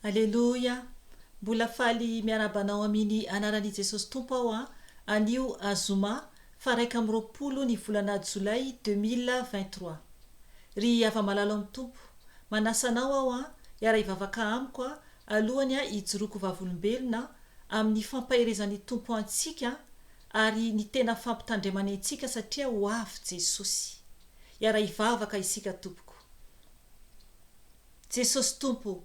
Aleloia! Mbola faly miarahaba anao aminy anaran i Jesosy Tompo aho an! Anio azoma faha raika amby roapolo ny volana jolay deux mille vingt trois. Ry hava malalo am Tompo, manasa anao aho an! hiara hivavaka amiko an! alohany an hijoroako vavolombelona an! aminy fampaherezany Tompo antsika an! ary ny tena fampitandremany antsika satria ho avy Jesosy. Hiara hivavaka isika tompoko. Jesosy Tompo o,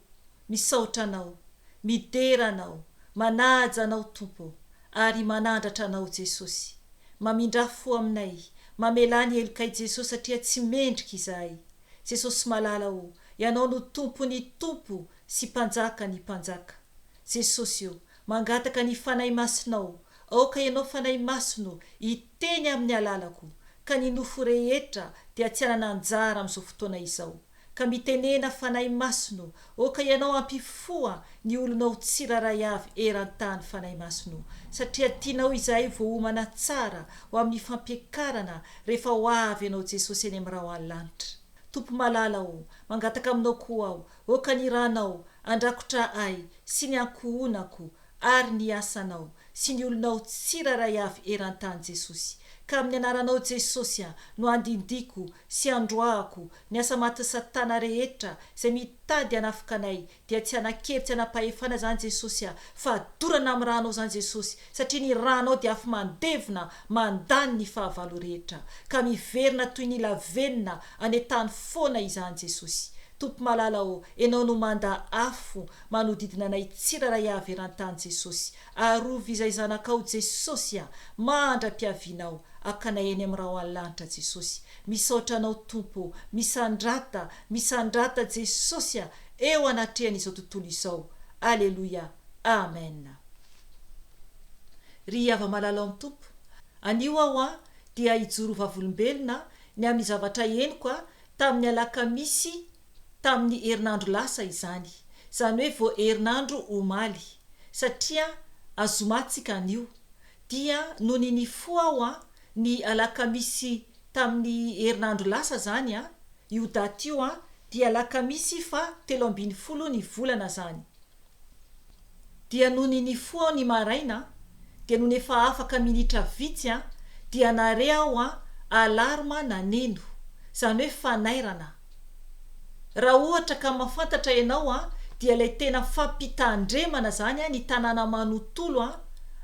misaotra Anao, midera Anao, manaja Anao Tompo o, ary manandratra Anao Jesosy. Mamindrà fo aminay, mamelà ny helokay Jesosy satria tsy mendrika izahay. Jesosy malala o, Ianao no Tompo ny Tompo sy Mpanjaka ny Mpanjaka. Jesosy o, mangataka ny Fanahy Masinao, aoka Ianao Fanahy Masina o, Teny amin'ny alalako, ka ny nofo rehetra dia tsy hanana anjara amin'izao fotoana izao. Ka mitenena, Fanahy Masino ô, ka Ianao hampifoha ny olonao tsirairay avy eran-tany, Fanahy Masino, satria tianao izahay ho voaomana tsara ho amin'ny fampiakarana rehefa ho avy Ianao Jesosy any amin'ny rahona lanitra. Tompo malala ô, mangataka aminao koa aho, ô ka ny Ranao handrakotra ahy sy ny ankohonako ary ny asanao sy ny olonao tsirairay avy eran-tany Jesosy, ka amin'ny anaranao Jesosy aho no andindiko sy androahako ny asa matin'i satana rehetra izay mitady hanafoka anay dia tsy hanakely tsy hanam-pahefana izany Jesosy aho fa dorana amin'ny ranao izany Jesosy satria ny ranao dia afo mandevona mandany ny fahavalo rehetra ka miverina toy ny lavenona any an-tany foana izany Jesosy Tompo malala ô enao no manda afo Manodidina anay tsirairay hahaveran-tany Jesosy. Arovy izay zanakao Jesosy a! Mandra-piaviana aho hakanay eny amin'ny Rao any lanitra Jesosy. Misaotra anao Tompo ô! Misandrata, misandrata Jesosy a! Eo anatrehan'izao tontolo izao. Aleloia! Amen! Ry hava-malala ao amin'ny Tompo, anio aho an dia hijoro ho vavolombelona ny amin'ny zavatra henoko an tamin'ny alakamisy tamin'ny herinandro lasa izany, izany hoe vao herinandro omaly, satria azoma tsika anio, dia nony nifoha aho an, ny alakamisy tamin'ny herinandro lasa zany an, io daty io an, dia alakamisy faha telo ambin'ny folo ny volana zany. Dia nony nifoha aho ny maraina dia nony efa afaka minitra vitsy an dia nare aho an alarme naneno, zany hoe fanairana. Raha ohatra ka mafantatra ianao an dia ilay tena fampitandremana zany an ny tanàna manotolo an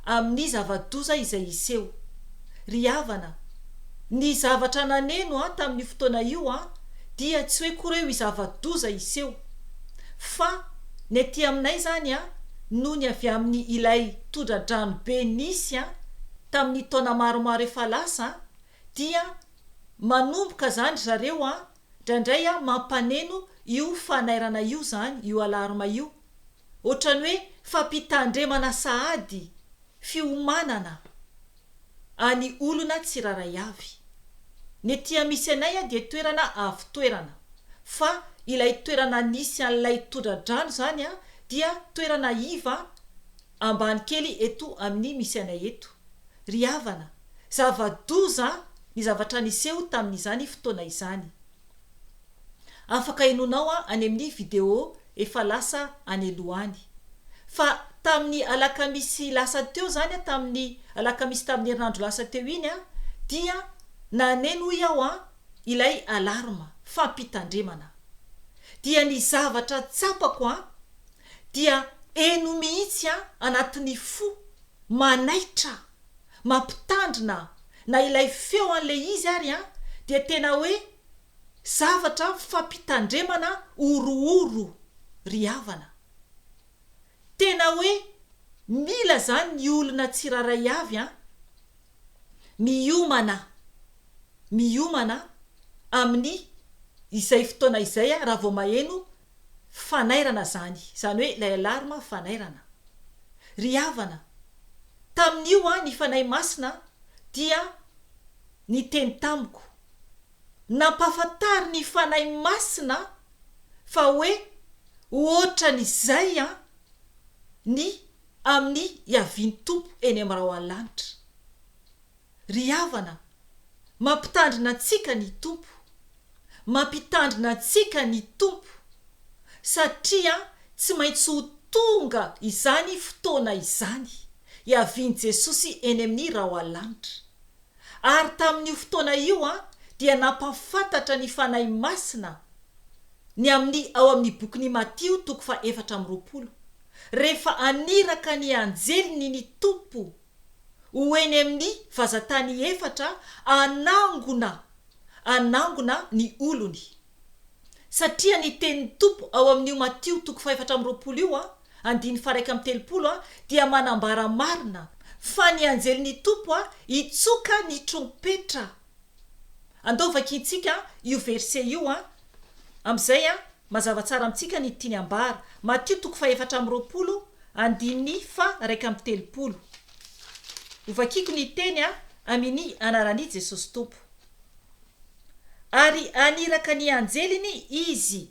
amin'ny zava-doza izay hiseho. Ry havana, ny zavatra naneno an tamin'io fotoana io an dia tsy hoe koa reo i zava-doza hiseho fa Ny aty aminay izany an, nony avy amin'ny ilay tondra-drano be nisy an, tamin'ny taona maromaro efa lasa an, dia manomboka izany ry zareo an, indraindray an mampaneno io fanairana io izany, io alarme io. Ohatran'ny hoe fampitandremana sahady fiomanana. any olona tsiraray avy. Ny ety amisy anay a dia toerana avo toerana fa ilay toerana nisy an'ilay tondra-drano zany a dia toerana iva ambany kely eto amin'ny misy anay eto. Ry havana, zava-doza ny zavatra niseho tamin'izany fotoana izany. Afaka henonao any amin'ny video efa lasa any aloha any. Fa tamin'ny alakamisy lasa teo izany, tamin'ny alakamisy tamin'ny herinandro lasa teo iny aho dia naneno hoy aho an, ilay alarme, fampitandremana. Dia ny zavatra tsapako an, dia heno mihitsy an anatin'ny fo, manaitra mampitandrina na ilay feo an'ilay izy ary an dia tena hoe zavatra fampitandremana horohoro ry havana. Tena hoe mila izany ny olona tsirairay avy an. Miomana miomana amin'ny izay fotoana izay raha vao maheno fanairana izany, izany hoe ilay alarme fanairana. Ry havana, tamin'io aho ny Fanahy Masina dia niteny tamiko. Nampahafantarin'ny Fanahy Masina fa hoe hoatran'izay an, ny amin'ny hiavian'ny Tompo eny amin'ny rahona lanitra. Ry havana, mampitandrina antsika ny Tompo. Mampitandrina antsika ny Tompo, satria tsy maintsy ho tonga izany fotoana izany, hiavian'i Jesosy eny amin'ny raoalanitra. Ary tamin'io fotoana io dia nampahafantatra ny Fanahy Masina ny amin'ny ao amin'ny bokin'i Matio toko faha efatra amby roapolo, rehefa haniraka ny anjeliny ny Tompo ho eny amin'ny vazatany efatra hanangona hanangona ny olony. Satria ny tenin'ny Tompo ao amin'io Matio toko fahefatra amby roapolo io andininy faharaika amby telopolo dia manambara marina fa ny anjelin'ny Tompo hitsoka ny trompetra Andao vakintsika io verset io an! Amin'izay an, mazava tsara amintsika ny tiany ambara. Matio toko fahefatra amby roapolo, andininy faha iraika amby telopolo. Ho vakiako ny teny an, amin'i anaran'i Jesosy Tompo. Ary haniraka ny anjeliny Izy,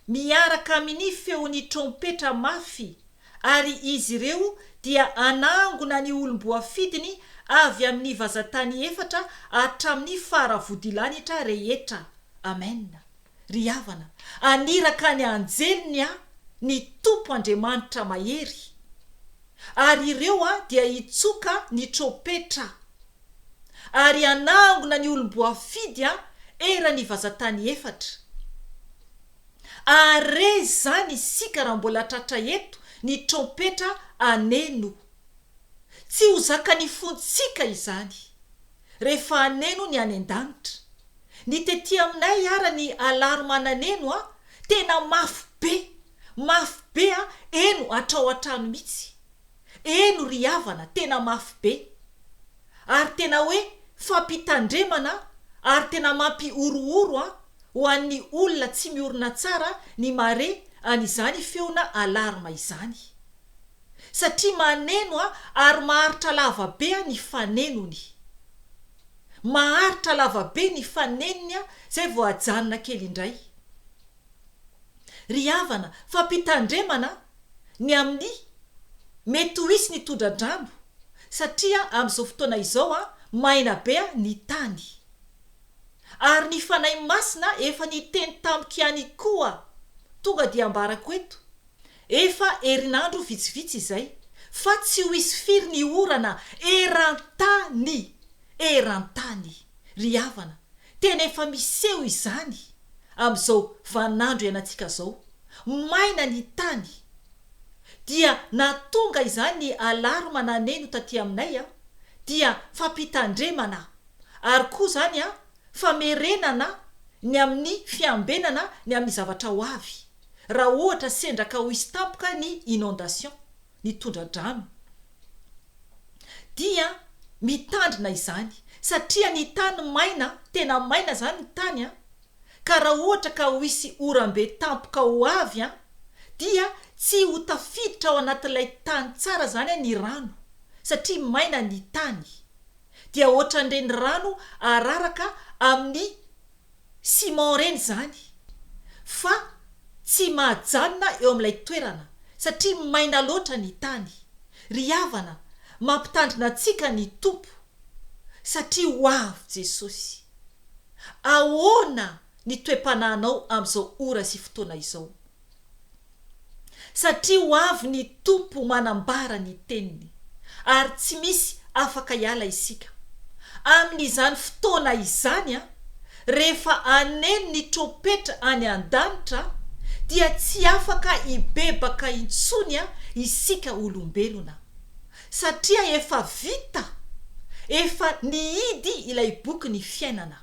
miaraka amin'i feon'ny trompetra mafy. Ary izy ireo dia hanangona ny olom-boafidiny avy amin' ny vazan-tany efatra hatramin' ny fara vodilanitra rehetra. Amena. Ry havana, haniraka ny anjeliny Aho, ny Tompo Andriamanitra Mahery. Ary ireo dia hitsoka ny trompetra. Ary hanangona ny olom-boafidy eran' ny vazan-tany efatra. Are izany isika raha mbola tratra eto ny trompetra ane no. Tsy ho zakan'ny fontsika izany. Rehefa aneno ny any an-danitra. Ny tety aminay ara ny alarme ananeno a tena mafy be, mafy be a eno hatrao an-trano mitsy. Eny ry havana tena mafy be ary tena hoe fampitandremana ary tena mampihorohoro an ho an'ny olona tsy miorina tsara ny mare an'izany feona alarme izany satria maneno an ary maharitra lava be an ny fanenony maharitra lava be ny fanenony an zay vao ajanona kely indray ry havana fampitandremana ny amin'ny mety ho hisy ny tondra-drano satria amin'izao fotoana izao maina be ny tany. Ary ny Fanahy Masina efa niteny tamiko ihany koa, tonga dia ambarako eto, efa herinandro vitsivitsy izay, fa tsy ho hisy firy ny orana eran-tany, eran-tany, ry havana, Tena efa miseho izany amin'izao vanin'andro ianantsika izao, maina ny tany. Dia nahatonga izany ny alarma naneno taty aminay an, dia fampitandremana ary koa izany an, famerenana ny amin'ny fiambenana ny amin'ny zavatra ho avy, raha ohatra sendra ka ho hisy tampoka ny inondation. ny tondra-drano dia mitandrina izany satria ny tany maina tena maina izany ny tany an, ka raha ohatra ka ho hisy oram-be tampoka ho avy an, dia tsy ho tafiditra ao anatin'ilay tany tsara izany ny rano satria maina ny tany dia ohatran'ireny rano araraka amin'ny Simon ireny izany fa tsy mahajanona eo amin'ilay toerana satria maina loatra ny tany. Ry havana, mampitandrina antsika ny Tompo satria ho avy Jesosy. Ahoana ny toe-panahinao amin'izao ora sy fotoana izao? Satria ho avy ny Tompo manambara ny teniny, ary tsy misy afaka hiala isika. Amin' izany fotoana izany, rehefa aneno ny trompetra any an-danitra, dia tsy afaka hibebaka intsony isika olombelona. Satria efa vita, efa nihidy ilay bokin' ny fiainana.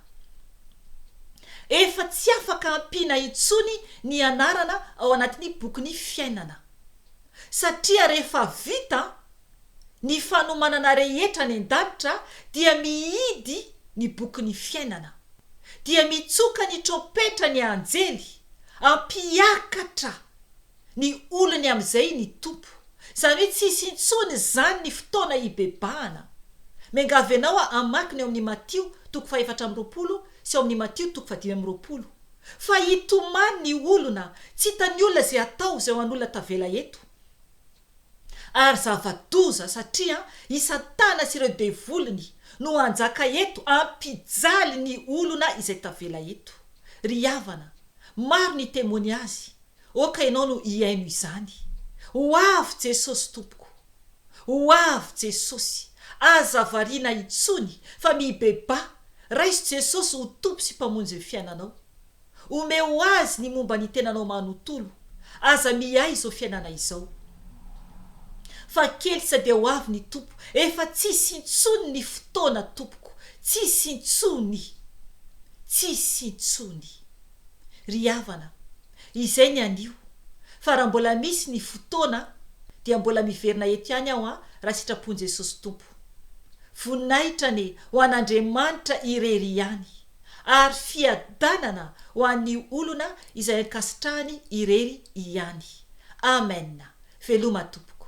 Efa tsy afaka ampiana intsony ny anarana ao anatin'ny bokin'ny fiainana. Satria rehefa vita ny fanomanana rehetra any an-danitra dia mihidy ny bokin'ny fiainana. Dia mitsoka ny trompetra ny anjely, hampiakatra. Ny olony amin'izay ny Tompo. Izany hoe tsy hisy intsony izany ny fotoana hibebahana. Miangavy anao hamaky ny ao amin'ny Matio toko fahefatra amby roapolo sy ao amin'ny Matio toko fahadimy amby roapolo. Fa hitomany ny olona, tsy hitan'ny olona izay hatao izay ho an'olona tavela eto. Ary zava-doza satria i Satana sy ireo devoliny no hanjaka eto hampijaly ny olona izay tavela eto. Ry havana, maro ny temoniazy, Oh ka ianao no hihaino izany. Ho avy Jesosy tompoko. Ho avy Jesosy. Aza variana intsony fa mibebaha, raiso Jesosy ho Tompo sy Mpamonjy ny fiainanao. Omeo Azy ny momba ny tenanao manontolo. Aza miahy izao fiainana izao. Fa kely tsy dia ho avy ny Tompo. Efa tsy hisy intsony ny fotoana tompoko. Tsy hisy intsony. Tsy hisy intsony. Ry havana, izay ny anio, fa raha mbola misy ny fotoana dia mbola miverina eto ihany aho an, raha sitrapon'i Jesosy Tompo. Voninahitra anie ho an'Andriamanitra irery ihany, ary fiadanana ho an'ny olona izay ankasitrahany irery ihany. Amen! Veloma tompoko.